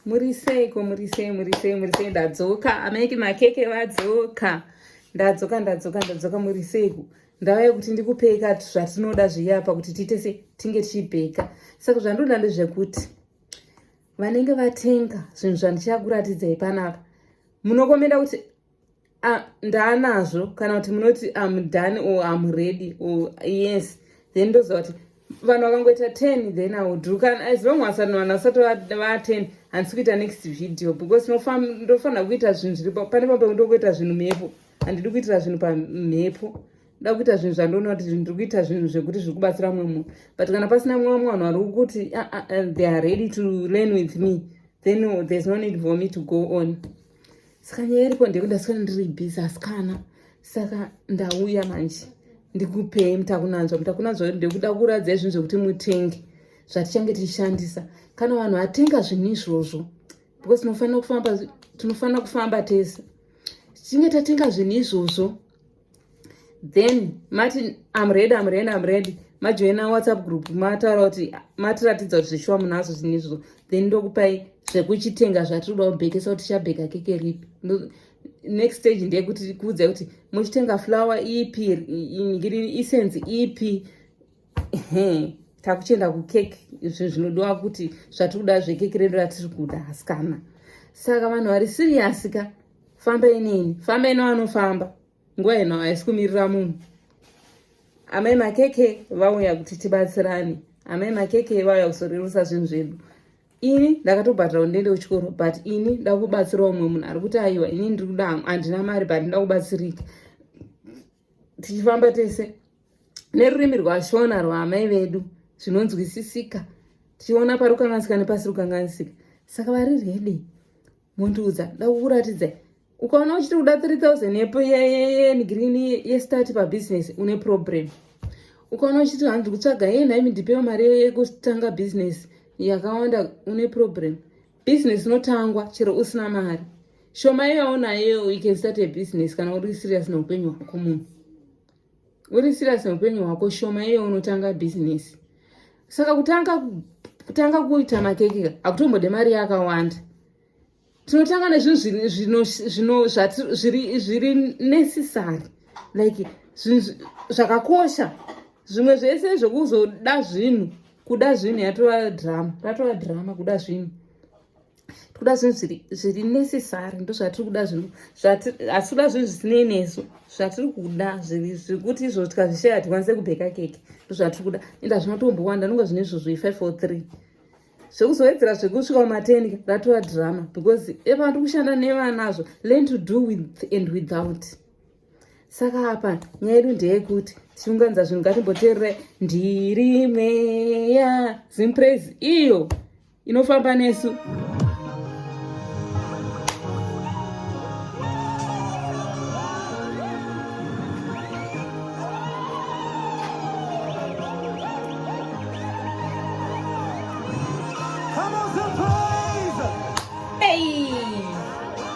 muriseiko murisei murisei murisei ndadzoka amaiki makeke vadzoka ndadzoka ndadzoka ndadzoka muriseiko ndava yekuti ndikupei kati zvatinoda zviyapa kuti tiite se tinge tichibheka saka zvandinoda ndezvekuti vanenge vatenga zvinhu zvandichakuratidzai panapa munokomenda kuti uh, ndaanazvo kana kuti munoti am done or am ready or yes then ndoziva kuti vanhu vakangoita ten then audu kana as long as vanhu vasati vaten handisi kuita next video because ndofanira kuita zvinhu zviri pane pamba kuda kuita zvinhu mhepo handidi kuitira zvinhu pamhepo da kuita zvinhu zvandoona kuti zvinhu ndiri kuita zvinhu zvekuti zviri kubatsira mumwe munhu but kana pasina mumwe vamwe vanhu vari kuti ah, ah, ah, they are ready to learn with me then there's no need for me to go on saka nyaya iripo ndekuti ndaswera ndiri busy asikana saka ndauya manje ndikupei mutakunanzwa mutakunanzwa ndekuda kuratidza izvinhu zvekuti mutenge zvatichange tichishandisa kana vanhu vatenga zvinhu izvozvo because tinofanira kufamba tinofanira kufamba tese tichinge tatenga zvinhu izvozvo then mati im ready im ready im ready majoina whatsapp group mataura kuti matiratidza kuti zveshuwa munazvo zvinhu izvozvo then ndokupai zvekuchitenga zvatinoda kubhekesa kuti chabheka keke ripi next stage ndeyekuti kuudzai kuti muchitenga flower ipi ngiri isenzi ipi takuchienda kukeke izvi zvinodiwa kuti zvatiri kuda zvekeke redu ratiri kuda hasikana saka vanhu vari siriyasi ka famba inini famba ino anofamba nguva ino haisi kumirira munhu amai makeke vauya kuti tibatsirane amai makeke vauya kuzorerusa zvinhu zvedu ini ndakatobhadhira kuti ndiende kuchikoro but ini ndakubatsira umwe munhu ari kuti aiwa ini ndiri kuda handina mari but ndakubatsirika tichifamba tese nerurimi rwashona rwaamai vedu zvinonzwisisika tichiona pari kukanganisika nepasi rukanganisika saka vari redi mondiudza ndakukuratidzai ukaona uchiti kuda 3000 yepo yegreen yestart pabusiness une problem ukaona uchiti handi kutsvaga ye nhaimi ndipewo mari yekutanga business yakawanda une problem Business inotangwa chero usina mari shoma yaonayo you can start a business kana uri serious neupenyu hwako munhu uri serious neupenyu hwako shoma iyo unotanga business saka kutanga kutanga kuita makeke hakutombode mari yakawanda tinotanga nezvinhu zviri necessary like zvakakosha zvimwe zvese zvekuzoda zvinhu kuda zvinhu yatova drama ratova drama kuda zvinhu tikuda zvinhu zviri necessary ndo zvatiri kuda zvinhu asi kuda zvinhu zvisinei nesu zvatiri kuda zvekuti izvo tikazvishaya hatikwanise kubheka keke ndo zvatiri kuda enda zvinotombowanda nonga zvine izvo zve five or three zvekuzowedzera zvekusvika kumatenga ratova drama because epano tiri kushanda nevanazvo learn to do with and without saka apa nyaya yedu ndeyekuti tichiunganidza zvinhu ngatimboteerere ndiri mweya zimpraise iyo inofamba nesu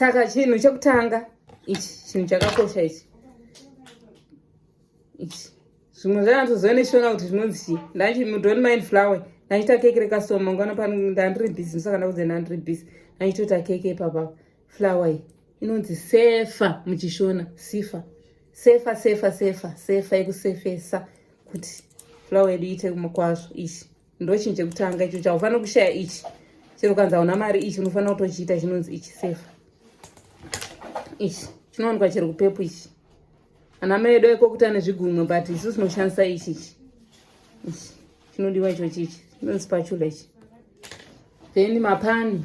saka chinhu chekutanga ichi chinhu chakakosha ichi ichi zvimwe zvanatozove neshona kuti zvinonzi chii ndachi mudoni mind flower ndachita keke rekasoma ngwana pano ndandiri busy ndisaka ndakuze ndandiri busy ndachitota keke ipapapa flower iyi inonzi sefa muchishona sifa sefa sefa sefa sefa yekusefesa kuti flower yedu iite kwazvo ichi ndochinhu chekutanga icho chaufanira kushaya ichi chero ukanzi hauna mari ichi unofanira kutochiita chinonzi ichi sefa ichi chinowanikwa chero kupepu ichi ana mai edu aikokuti ane zvigumwe but isu tinoshandisa ichi ichi ichi chinodiwa ichochi ichi chinonzi pachula ichi then mapani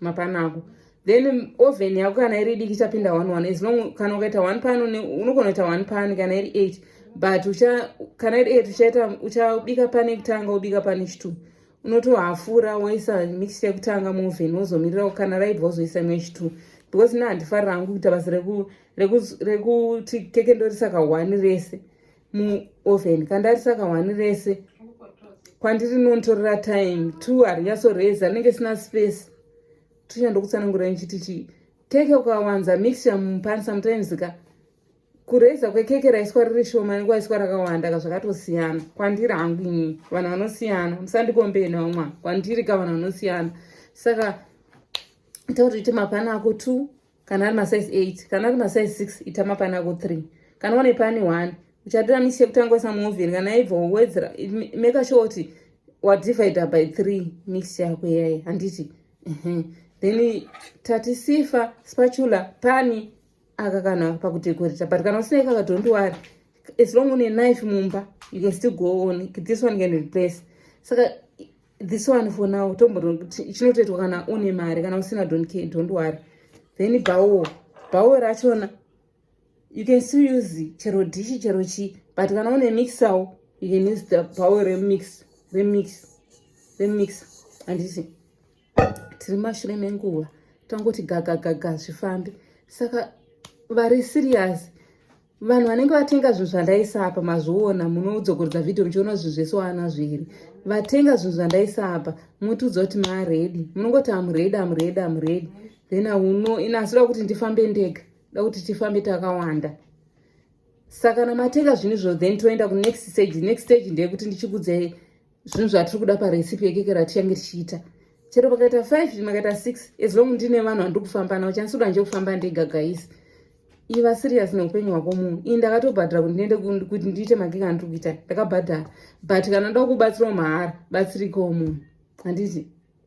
mapanako then oven yako kana iri diki ichapinda one one as long kana ukaita one pan unogona kuita one pan kana iri eight but ucha kana iri eight uchaita uchabika pane yekutanga wobika pane chitwo unotohafura woisa mixture yekutanga muoven wozomirira kana raibva wozoisa imwe chitwo because na handifarira hangu kuita basa rekuti keke ndorisa kahwani rese muoven kandari saka wani rese kwandiri nontorera time two harinyasoreza anenge sina space tunya ndokutsanangura nichiti chii keke ukawanza mixture mupani sometimes ka kureza kwekeke raiswa riri shoma nekwaiswa rakawanda ka zvakatosiyana kwandiri hangu inini vanhu vanosiyana musandikombee nawo mwana kwandiri ka vanhu vanosiyana saka ita kuti uite mapani ako two kana ari masize 8 kana ari masize 6 ita mapana ako 3 kana wane pani 1 uchatora misi yekutanga uisa muovheni kana ibva wowedzera make sure kuti wadivider by 3 misi yako iyayi handiti then tati sifa spatula pani aka kana pakudekoreta but kana usina ikaka don't worry as long une knife mumba you can still go on this one can replace saka this one for now tomboona kuti chinotoitwa kana une mari kana usina don't care don't worry then bhawo bhawo rachona you can still use chero dishi chero chii but kana une mixawo you can use the bhawo remix remix remix handisi tiri mashure menguva tangoti gagagaga zvifambi saka vari serious vanhu vanenge vatenga zvinhu zvandaisa apa mazviona munodzokorodza vhidhiyo muchiona zvinhu zvese waana zviri vatenga zvinhu zvandaisa apa motiudza kuti maredi munongoti amuredi amuredi amuredi then auno ina asi da kuti ndifambe ndega da kuti tifambe takawanda saka kana matenga zvinhu izvo then toenda kunext stage next stage ndeyekuti ndichikudzei zvinhu zvatiri kuda parecipe yekeke ratichange tichiita chero pakaita five makaita six as long ndine vanhu vandiri kufamba navo chanisi udanje kufamba ndega gais iva serious neupenyu hwako munhu ii ndakatobhadhara kuti ndiende kuti ndiite magega andiri kuita ndakabhadhara but kana ndoda kubatsirawo mahara batsirikawo munhu handiti